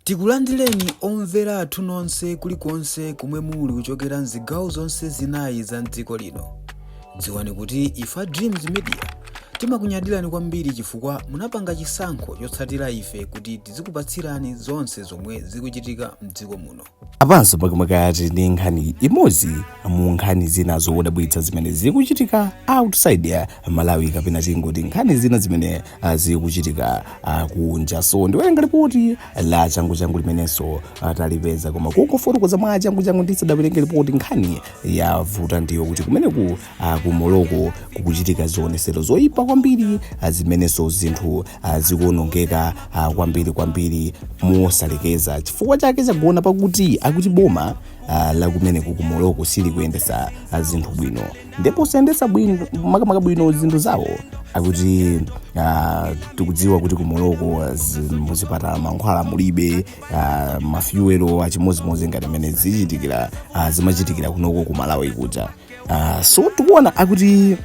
Tikulandireni omvera athu nonse kulikonse komwe muli kuchokera mzigawo zonse zinayi za mdziko lino. Dziwani kuti ife a Dreams Media timakunyadirani kwambiri chifukwa munapanga chisankho chotsatira ife kuti tizikupatsirani zonse zomwe zikuchitika mdziko muno. Apanso makamaka akuti ndi nkhani imodzi mu nkhani zina zodabwitsa zimene zikuchitika outside ya Malawi kapena tingoti nkhani zina zimene ah, zikuchitika ah, kunja so ndiwerenga lipoti la changuchangu limenenso ah, talipeza koma kungofotokoza mwa changuchangu ndisadawerenge lipoti nkhani yavuta ndi yoti kumeneku ah, ku Morocco kukuchitika zionetsero zoyipa kwambiri ah, zimenenso zinthu ah, zikuonongeka ah, kwambiri kwambiri mosalekeza chifukwa chake chagona pakuti akuti boma ah, la kumeneku ku Morocco silikuyendetsa ah, zinthu bwino ndipo kusayendetsa bwino makamaka bwino zinthu zawo akuti ah, tikudziwa kuti ku Morocco mzipatala mankhwala mulibe ah, mafyuwelo achimodzimodzi ngati mmene zichitikira ah, zimachitikira kunoko ku Malawi kuja Ah, so tikuona akuti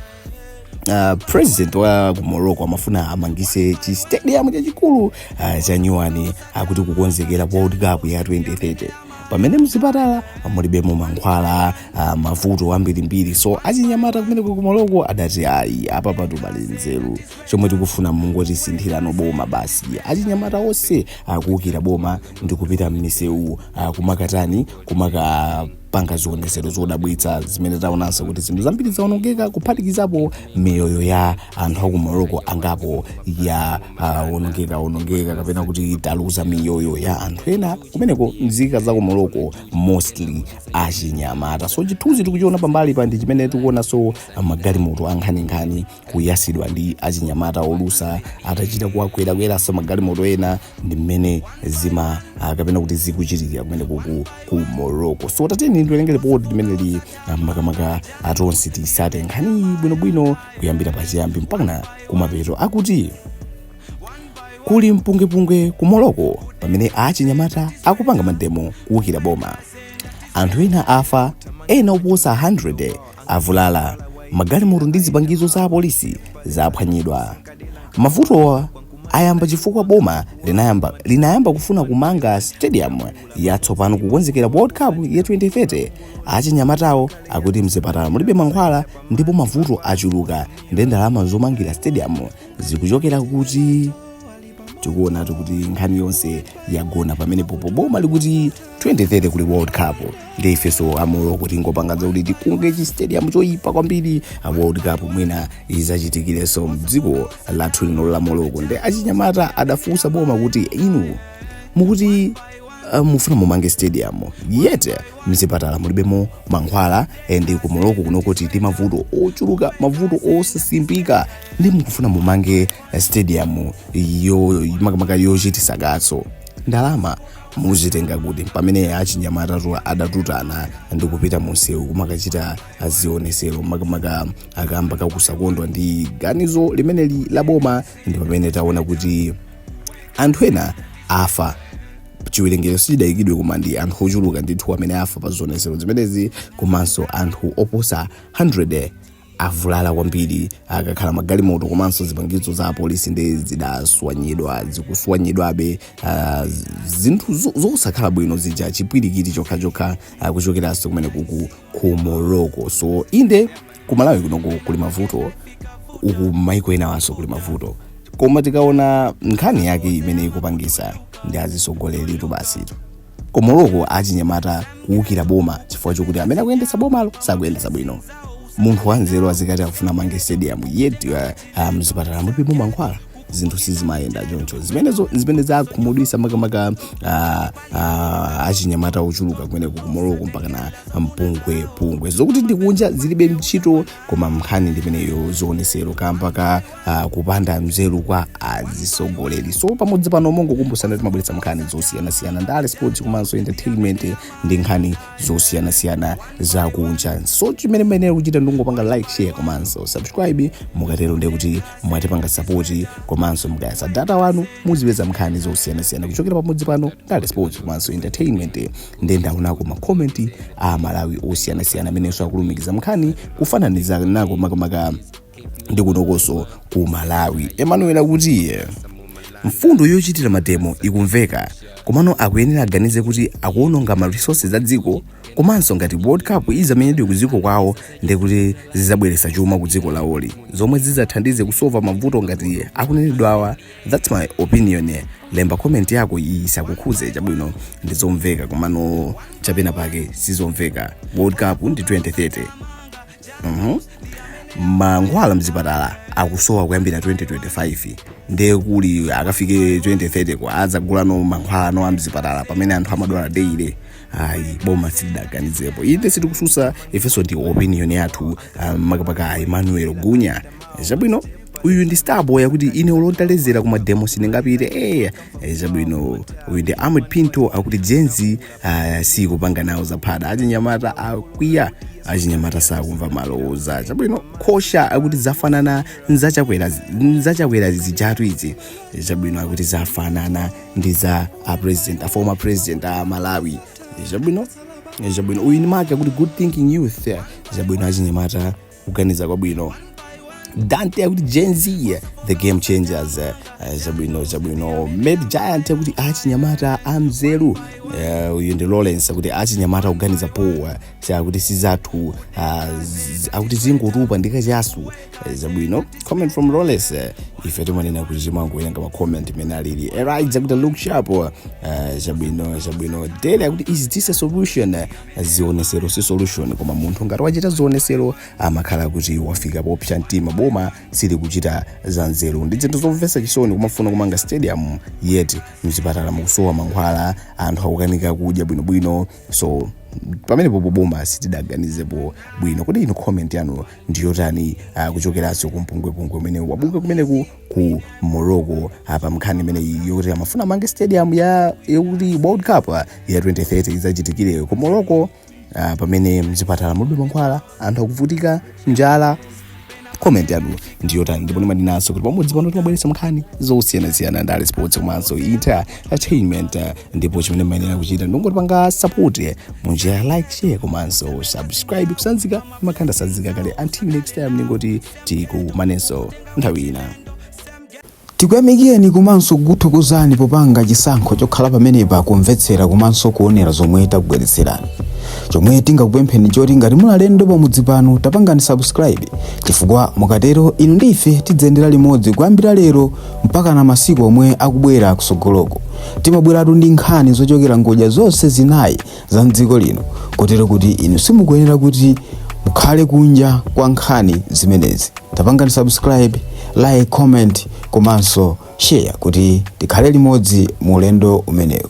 Uh, president wa ku Morocco amafuna amangitse chi stadium chachikulu uh, cha nyuwani akuti kukonzekera world cup ya 2030 pamene mzipatala mulibemo mankhwala ah, mavuto ambirimbiri so achinyamata kumeneku ku Morocco adati ayi apapatu palibe nzeru chomwe tikufuna mungotisinthirano boma basi achinyamata onse akuukira boma ndi kupita m'misewu ah, kumakatani kumakapanga zionetsero zodabwitsa zimene taonanso kuti zinthu zambiri zaonongeka kuphatikizapo miyoyo ya anthu a ku Morocco angapo ya uh, onongeka onongeka kapena kuti taluza miyoyo ya anthu ena kumeneko mzika za ku Morocco mostly achinyamata so chithunzi tikuchiona pambalipa ndi chimene tikuonanso magalimoto ankhaninkhani kuyatsidwa ndi achinyamata olusa atachita kuwakwerakweranso magalimoto ena ndi mmene zima uh, kapena kuti zikuchitikira kumeneko ku, ku Morocco so tatiyeni tiwerenge lipoti limeneli uh, makamaka tonse titsate nkhaniyi bwinobwino kuyambira pachiyambi mpakana kumapeto akuti kuli mpungwepungwe ku Morocco pamene achinyamata akupanga mademo kuukira boma anthu ena afa ena oposa 100 avulala magalimoto ndi zipangizo za apolisi zaphwanyidwa mavutowa ayamba chifukwa boma linayamba, linayamba kufuna kumanga stadium yatsopano kukonzekera World Cup ya 2030 achinyamatawo akuti mzipatala mulibe mankhwala ndipo mavuto achuluka nde ndalama zomangira stadium zikuchokera kuti tikuonatu kuti nkhani yonse yagona pamenepo pomwe boma likuti 2030 kuli world cup nde ifenso a Morocco tingopanga za kuti tikunge chi stadium choyipa kwambiri a world cup mwina idzachitikirenso mdziko lathu lino la Morocco nde achinyamata adafunsa boma kuti inu mukuti uh, mufuna mumange stadium yet mzipatala mulibemo mankhwala and ku morocco kuno kuli ndi mavuto ochuluka mavuto osasimbika ndiye mukufuna mumange eh, stadium yo makamaka yochitisa kaso ndalama muzitenga kuti pamene achinyamatatu adatutana ndi kupita munsewu kumakachita zionesero makamaka akamba zakusakondwa ndi ganizo limeneli la boma ndi pamene taona kuti anthu ena afa chiwerengero sichidadziwike koma ndi anthu ochuluka ndithu amene afa pa zionetsero zimenezi komanso anthu oposa 100 avulala kwambiri akakhala magalimoto komanso zipangizo za apolisi ndiye zidaswanyidwa zikuswanyidwabe ah, z- zinthu zo- zosakhala bwino zija chipwirikiti chokhachokha ah, kuchokeranso kumeneku ku morocco so inde ku malawi kuno ku- kuli mavuto uku maiko enawanso kuli mavuto koma tikaona nkhani yake imene ikupangisa ndi azisogoleritu basi ku morocco achinyamata kuwukira boma chifukwa chokuti amene akuyendetsa bomalo sakuyendetsa bwino munthu wanzeru azikuti akufuna amange stadium yet uh, ah, mzipatala mulibemo mankhwala zinthu sizimayenda choncho zimenezo zimene zakhumudwisa makamaka ah, ah, achinyamata ochuluka kumeneku ku morocco mpakana mpungwe pungwe zokuti ndikunja zilibe ntchito koma nkhani ndimeneyo zionesero kamba ka ah, kupanda nzeru kwa azisogoleri so pamudzi pano mongokumbusana timabweretsa nkhani zosiyanasiyana ndale sports komanso entertainment ndi nkhani zosiyanasiyana za kunja so choncho chimene muyenera kuchita ndikungopanga like share komanso subscribe mukatero ndiye kuti mwatipanga sapoti komanso mukayatsa data wanu muzipeza nkhani zosiyanasiyana kuchokera pamudzi pano ndale sports komanso entertainment ndiye ndaonako makomenti amalawi osiyanasiyana amenenso akulumikiza nkhaniyi kufananiza nako makamaka ndi kunokonso ku malawi emmanuel akuti mfundo yochitira mademo ikumveka komano akuyenera aganize kuti akuononga ma resources a dziko komanso ngati world cup izamenyedwe ku dziko kwawo ndekuti zizabweretsa chuma ku dziko lawoli zomwe zizathandize kusova mavuto ngati akunenedwawa thats my opinion lemba comment yako iyi isakukhuze chabwino ndi zomveka komano chapena pake sizomveka world cup ndi 2030 Mhm. mankhwala mzipatala akusowa kuyambira 2025 ndiye kuti akafike 2030 kuti adzaguleno mankhwala ano amzipatala pamene anthu amadwala daily ayi boma silidaganizepo inde sitikususa ifenso ndi opinion yathu um, makamaka emmanuel gunya chabwino uyu ndi starboy akuti ine olo ntaledzera ku mademo sindingapite eya chabwino uyu ndi ahmed pinto akuti gen z aya si kupanga nawo zaphada achinyamata akwiya achinyamata sakumva malowoloza chabwino khosha akuti zafanana ndi za Chakwera zijatu izi chabwino akuti zafanana ndi za a president a former president a malawi chabwino chabwino uyu ni make akuti good thinking youth chabwino achinyamata kuganiza kwabwino dante akuti gen z the game changers eh, eh, zabwino zabwino made giant akuti achinyamata amzeru Eh, uyu ndi lawrence akuti achinyamata kuganiza powa akuti sizathu ah, z- akuti zingotupa ndi kachasu Eh, zabwino comment from lawrence eh, ife timanena kuti timangowerenga macomment imene alili erides akuti look sharp eh, zabwino zabwino dele akuti is this a solution Eh, zionesero si solution koma munthu ngati wachita zionesero amakhala kuti wafika popsa mtima boma silikuchita za nzeru ndi zinthu zomvetsa chisoni kumafuna kumanga stadium yet mchipatala mukusowa mankhwala anthu akukanika kudya bwinobwino so pamenepo boma sitidaganizepo bwino kodi inu comment yanu ndi yotani uh, kuchokeranso ku mpungwepungwe umene wabuka kumeneku ku morocco apa mnkhani imeneyi yokuti amafuna amange stadium ya yokuti world cup ah, ya 2030 idzachitikire ku morocco ah, pamene mzipatala mulibe mankhwala anthu akuvutika njala comment yanu ndi yotani ndipo ndimanenanso kuti pamudzi pano timabweretsa nkhani zosiyanasiyana ndale sports komanso entertainment ah, ndipo chimene mmayenera kuchita ndingotipanga support eh, mu njira ya like share komanso subscribe kusanzika makhanda ndatsanzika kale until next time ndingoti tikumanenso nthawi ina tikuyamikeni komanso kukuthokozani popanga chisankho chokhala pamenepa kumvetsera komanso kuonera zomwe takubweretserani chomwe tingakupempheni choti ngati muli alendo pamudzi pano tapangani subscribe chifukwa mukatero inu ndi ife tidziyendera limodzi kuyambira lero mpakana masiku omwe akubwera kusogoloko timabweratu ndi nkhani zochokera ngodya zonse zinayi za mdziko lino kotero kuti inu simukuyenera kuti mukhale kunja kwa nkhani zimenezi tapangani subscribe like comment komanso share kuti tikhale limodzi mu ulendo umenewu